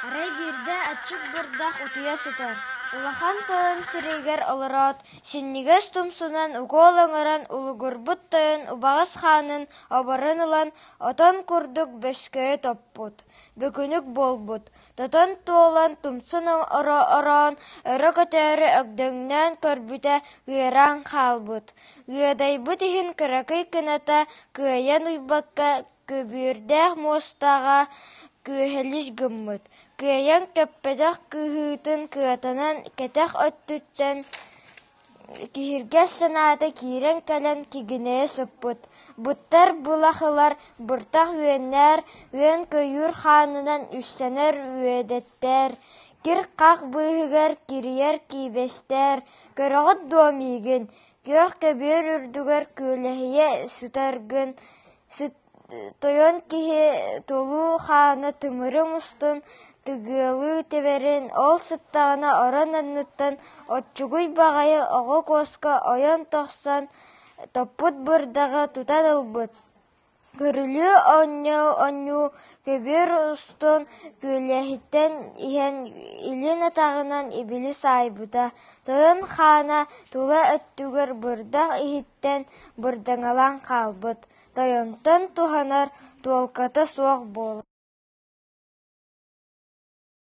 Арай биирдэ аччык бурдах утуйа сытар, улахан тойон сирэйигэр олороот, синньигэс тумсунан укуол оҥорон улугурбут тойон убаҕас хаанын оборон ылан, отон курдук бөскөйө топпут, бөкүнүк буолбут, тотон туолан тумсун ороон, өрө көтөөрү өгдөҥнөөн көрбүтэ ыараан хаалбыт, ыадайбыт иһин кыракый кыната Кыайан уйбакка, көбүөрдээх муостаҕа күөһэлис гыммыт, кыайан көппөтөх кыыһыытын кыатанан кэтэх өттүттэн киһиргэс санаата киирэн кэлэн кигинэйэ сыппыт, буттар былахылар быртах үөннээр, үөн көйүүр хаанынан үссэнэр үөдэттээр, кир-хах быыһыгар кирийэр киибэстээр, көрөҕүт дуо миигин Күөх көбүөр үрдүгэр күөлэһийэ сытаргын тойон киһи толуу хаана тымырын устун тыгыалыы тэбэрин, ол сыттаҕына орон анныттан оччугуй баҕайы оҕо куоска ойон тахсан топпут бырдаҕы тутан ылбыт Көрүлүү оонньуу-оонньуу көбүөр устун күөлэһиттэн иһэн илин атаҕынан ибили саайбыта, тойон хаана тула өттүгэр бырдах иһиттэн бырдаҥалаан хаалбыт, тойонтон туһанар туолката суох буолар